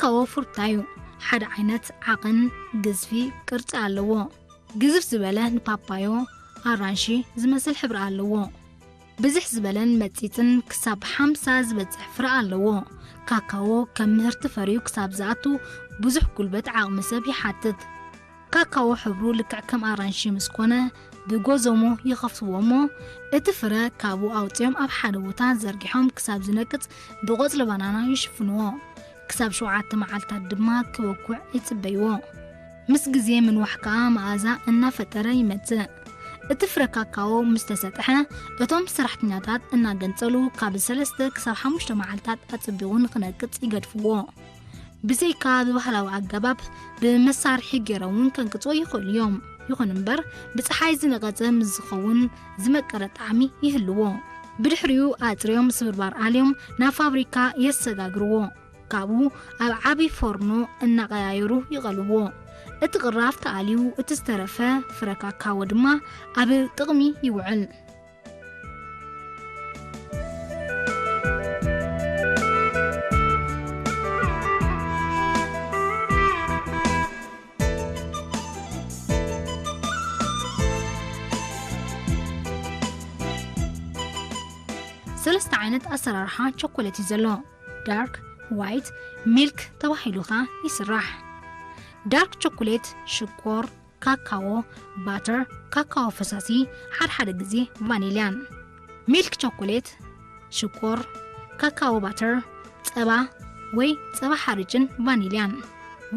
ከወፉር ታዩ ሓደ ዓይነት ዓቕን ግዝፊ ቅርጺ ኣለዎ። ግዝፍ ዝበለ ንፓፓዮ፣ ኣራንሺ፣ ዝመስል ሕብሪ ኣለዎ። ብዝሕ ዝበለን መጺጽን ክሳብ ሓምሳ ዝበጽሕ ፍረ ኣለዎ። ካካዎ ከም ምህርቲ ፈርዩ ክሳብ ዝኣቱ ብዙሕ ጉልበት ዓቕሚ ሰብ ይሓትት። ካካዎ ሕብሩ ልክዕ ከም ኣራንሺ ምስ ኮነ ብጎዞሞ ይኸፍትዎ እሞ እቲ ፍረ ካብኡ ኣውጺኦም ኣብ ሓደ ቦታ ዘርጊሖም ክሳብ ዝነቅጽ ብቆጽሊ ባናና ይሽፍንዎ። ክሳብ ሸውዓተ መዓልታት ድማ ክበኩዕ ይጽበይዎ። ምስ ግዜ ምንዋሕ ከኣ መኣዛ እናፈጠረ ይመጽእ። እቲ ፍረ ካካዎ ምስ ተሰጥሐ እቶም ሰራሕተኛታት እናገንጸሉ ካብ ሰለስተ ክሳብ ሓሙሽተ መዓልታት ኣጸቢቑ ንኽነቅጽ ይገድፍዎ። ብዘይካ ብባህላዊ ኣገባብ ብመሳርሒ ገይሮም እውን ከንቅፅዎ ይኽእሉ እዮም ይኹን እምበር ብፀሓይ ዝነቐፀ ምስ ዝኸውን ዝመቀረ ጣዕሚ ይህልዎ ብድሕሪኡ ኣፅርዮም ስብርባር ኣልዮም ናብ ፋብሪካ የሰጋግርዎ ካብኡ ኣብ ዓብዪ ፎርኖ እናቐያየሩ ይቐልዎ እቲ ቅራፍ ተኣልዩ እቲ ዝተረፈ ፍረ ካካዎ ድማ ኣብ ጥቕሚ ይውዕል ሰለስተ ዓይነት ኣሰራርሓ ቸኮሌት እዩ ዘሎ። ዳርክ፣ ዋይት፣ ሚልክ ተባሂሉ ከኣ ይስራሕ። ዳርክ ቸኮሌት ሽኮር፣ ካካዎ ባተር ካካዎ ፈሳሲ ሓድሓደ ግዜ ቫኒልያን ሚልክ ቸኮሌት ሽኮር ካካዎ ባተር ጸባ ወይ ጸባ ሓርጭን ቫኒልያን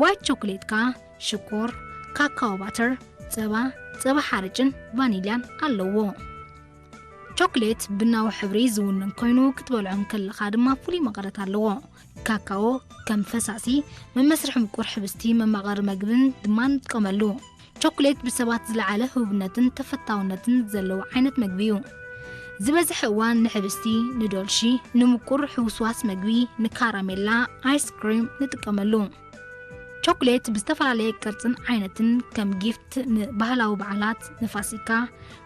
ዋይት ቸኮሌት ከኣ ሽኮር ካካዎ ባተር ጸባ ጸባ ሓርጭን ቫኒልያን ኣለዎ ቾክሌት ብናዊ ሕብሪ ዝውንን ኮይኑ ክትበልዖ እንከለኻ ድማ ፍሉይ መቐረት ኣለዎ ካካዎ ከም ፈሳሲ፣ መመስርሒ ምቁር ሕብስቲ፣ መማቐሪ መግብን ድማ ንጥቀመሉ። ቸኮሌት ብሰባት ዝለዓለ ህቡብነትን ተፈታውነትን ዘለዎ ዓይነት መግቢ እዩ። ዝበዝሐ እዋን ንሕብስቲ፣ ንዶልሺ፣ ንምቁር ሕውስዋስ መግቢ፣ ንካራሜላ፣ ኣይስክሪም ንጥቀመሉ። ቸኮሌት ብዝተፈላለየ ቅርጽን ዓይነትን ከም ጊፍት ንባህላዊ በዓላት፣ ንፋሲካ፣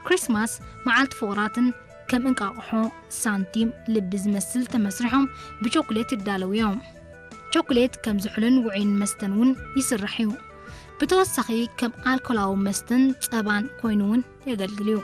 ክሪስማስ፣ መዓልቲ ፍቑራትን ከም እንቃቕሖ፣ ሳንቲም፣ ልቢ ዝመስል ተመስሪሖም ብቸኩሌት ይዳለዉ እዮም። ቸኩሌት ከም ዝሑልን ውዑይን መስተን እውን ይስራሕ እዩ። ብተወሳኺ ከም ኣልኮላዊ መስተን ጸባን ኮይኑ እውን የገልግል እዩ።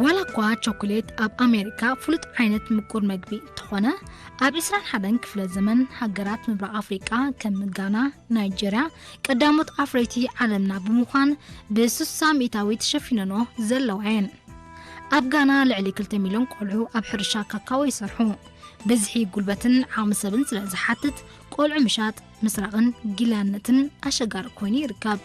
ዋላ እኳ ቸኮሌት ኣብ ኣሜሪካ ፍሉጥ ዓይነት ምቁር መግቢ እንተኾነ ኣብ 21 ክፍለ ዘመን ሃገራት ምብራቕ ኣፍሪቃ ከም ጋና፣ ናይጀርያ ቀዳሞት ኣፍረይቲ ዓለምና ብምዃን ብስሳ ሚእታዊ ተሸፊነኖ ዘለዋ እየን። ኣብ ጋና ልዕሊ 2 ሚልዮን ቆልዑ ኣብ ሕርሻ ካካዎ ይሰርሑ። ብዝሒ ጉልበትን ዓቕሚ ሰብን ስለ ዝሓትት ቆልዑ ምሻጥ፣ ምስራቕን ጊላነትን ኣሸጋሪ ኮይኑ ይርከብ።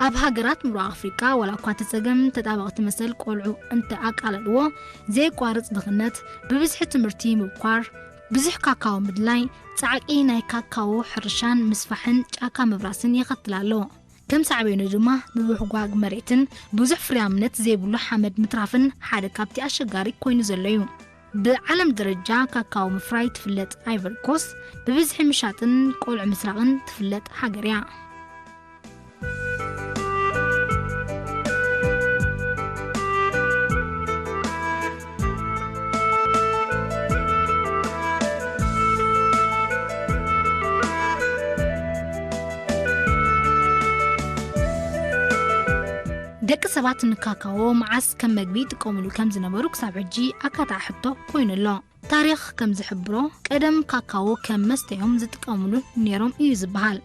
ኣብ ሃገራት ምብራቕ ኣፍሪቃ ዋላ'ኳ እቲ ጸገም ተጣበቕቲ መሰል ቆልዑ እንተ ኣቃለልዎ፣ ዘየቋርጽ ድኽነት፣ ብብዝሒ ትምህርቲ ምብኳር፣ ብዙሕ ካካዎ ምድላይ፣ ጻዕቂ ናይ ካካዎ ሕርሻን ምስፋሕን ጫካ ምብራስን የኸትል ኣሎ። ከም ሳዕቤኑ ድማ ምብሕጓግ መሬትን ብዙሕ ፍርያምነት ዘይብሉ ሓመድ ምትራፍን ሓደ ካብቲ ኣሸጋሪ ኰይኑ ዘሎ'ዩ። ብዓለም ደረጃ ካካዎ ምፍራይ ትፍለጥ ኣይቨሪ ኮስት፣ ብብዝሒ ምሻጥን ቆልዑ ምስራቕን ትፍለጥ ሃገር እያ። ደቂ ሰባት ንካካዎ መዓስ ከም መግቢ ይጥቀሙሉ ከም ዝነበሩ ክሳብ ሕጂ ኣካታዒ ሕቶ ኮይኑ ኣሎ። ታሪኽ ከም ዝሕብሮ ቀደም ካካዎ ከም መስተ'ዮም ዝጥቀሙሉ ነይሮም እዩ ዝበሃል።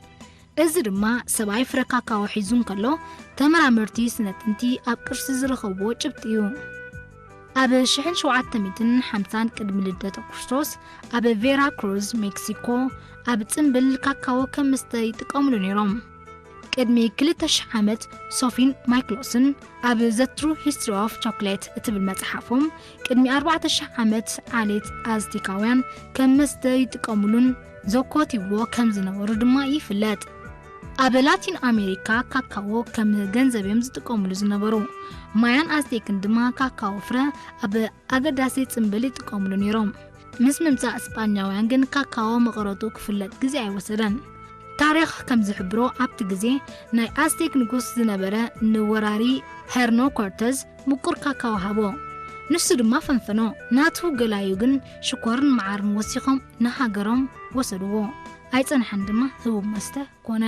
እዚ ድማ ሰብኣይ ፍረ ካካዎ ሒዙ እንከሎ ተመራመርቲ ስነ-ጥንቲ ኣብ ቅርሲ ዝረኸብዎ ጭብጢ እዩ። ኣብ ሽሕን ሸውዓተ ሚእትን ሓምሳን ቅድሚ ልደተ ክርስቶስ ኣብ ቬራ ክሩዝ ሜክሲኮ ኣብ ጽምብል ካካዎ ከም መስተ ይጥቀሙሉ ነይሮም። ቅድሚ ክልተ ሽሕ ዓመት ሶፊን ማይክሎስን ኣብ ዘ ትሩ ሂስትሪ ኦፍ ቾኮሌት እትብል መጽሓፎም ቅድሚ ኣርባዕተ ሽሕ ዓመት ዓሌት ኣዝቴካውያን ከም መስተ ይጥቀሙሉን ዘኮትይዎ ከም ዝነበሩ ድማ ይፍለጥ። ኣብ ላቲን ኣሜሪካ ካካዎ ከም ገንዘብ እዮም ዝጥቀሙሉ ዝነበሩ። ማያን ኣዝቴክን ድማ ካካዎ ፍረ ኣብ ኣገዳሲ ጽምብል ይጥቀሙሉ ነይሮም። ምስ ምምጻእ ስጳኛውያን ግን ካካዎ መቐረቱ ክፍለጥ ግዜ ኣይወሰደን። ታሪኽ ከም ዝሕብሮ ኣብቲ ግዜ ናይ ኣዝቴክ ንጉስ ዝነበረ ንወራሪ ሄርኖ ኮርተዝ ምቁር ካካዎ ሃቦ። ንሱ ድማ ፈንፈኖ። ናቱ ገላዩ ግን ሽኮርን መዓርን ወሲኾም ንሃገሮም ወሰድዎ። ኣይጸንሐን ድማ ህቡብ መስተ ኮነ።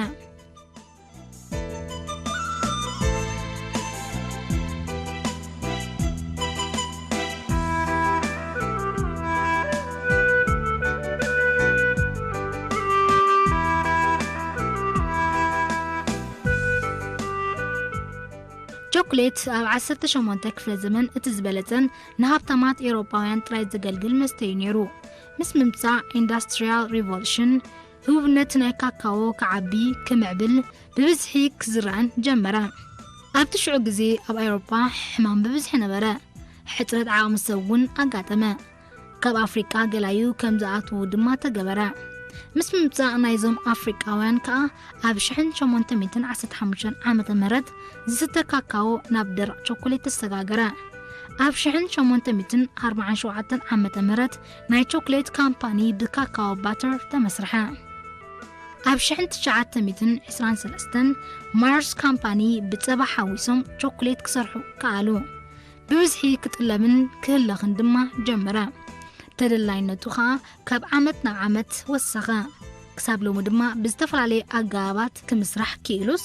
ቸኮሌት ኣብ 18 ክፍለ ዘመን እቲ ዝበለጸን ንሃብታማት ኤውሮጳውያን ጥራይ ዘገልግል መስተዩ ነይሩ። ምስ ምምጻእ ኢንዳስትሪያል ሪቮሉሽን ህቡብነት ናይ ካካዎ ክዓቢ፣ ክምዕብል፣ ብብዝሒ ክዝራእን ጀመረ። ኣብቲ ሽዑ ግዜ ኣብ ኣውሮጳ ሕማም ብብዝሒ ነበረ፣ ሕጽረት ዓቕሚ ሰብ እውን ኣጋጠመ። ካብ ኣፍሪቃ ገላዩ ከም ዝኣትዉ ድማ ተገበረ። ምስ ምምጻእ ናይዞም ኣፍሪቃውያን ከኣ ኣብ ሽሕን ሸሞንተ ሚእትን ዓሰርተ ሓሙሽተን ዓመተ ምህረት ዝስተ ካካዎ ናብ ደረቕ ቸኮሌት ተሰጋገረ። ኣብ ሽሕን ሸሞንተ ሚእትን ኣርብዓን ሸውዓተን ዓመተ ምህረት ናይ ቾክሌት ካምፓኒ ብካካዎ ባተር ተመስርሐ። ኣብ ሽሕን ትሽዓተ ሚእትን ዕስራን ሰለስተን ማርስ ካምፓኒ ብጸባ ሓዊሶም ቾክሌት ክሰርሑ ከኣሉ። ብብዝሒ ክጥለብን ክህለኽን ድማ ጀመረ። ተደላይነቱ ኸኣ ካብ ዓመት ናብ ዓመት ወሰኸ። ክሳብ ሎሚ ድማ ብዝተፈላለየ ኣገባባት ክምስራሕ ክኢሉስ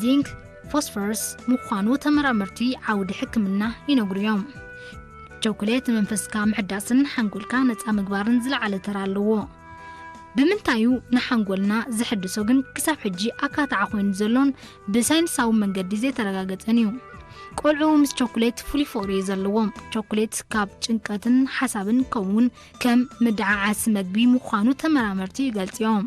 ዚንክ፣ ፎስፈረስ፣ ምዃኑ ተመራመርቲ ዓውዲ ሕክምና ይነግሩ እዮም። ቸኮሌት ንመንፈስካ ምሕዳስን ሓንጎልካ ነፃ ምግባርን ዝለዓለ ተራ ኣለዎ። ብምንታይ እዩ ንሓንጎልና ዘሕድሶ ግን ክሳብ ሕጂ ኣካታዓ ኮይኑ ዘሎን ብሳይንሳዊ መንገዲ ዘይተረጋገፀን እዩ። ቆልዑ ምስ ቸኮሌት ፍሉይ ፍቕሪ እዩ ዘለዎም። ቸኮሌት ካብ ጭንቀትን ሓሳብን ከምኡውን ከም ምድዓዓሲ መግቢ ምዃኑ ተመራመርቲ ይገልፁ እዮም።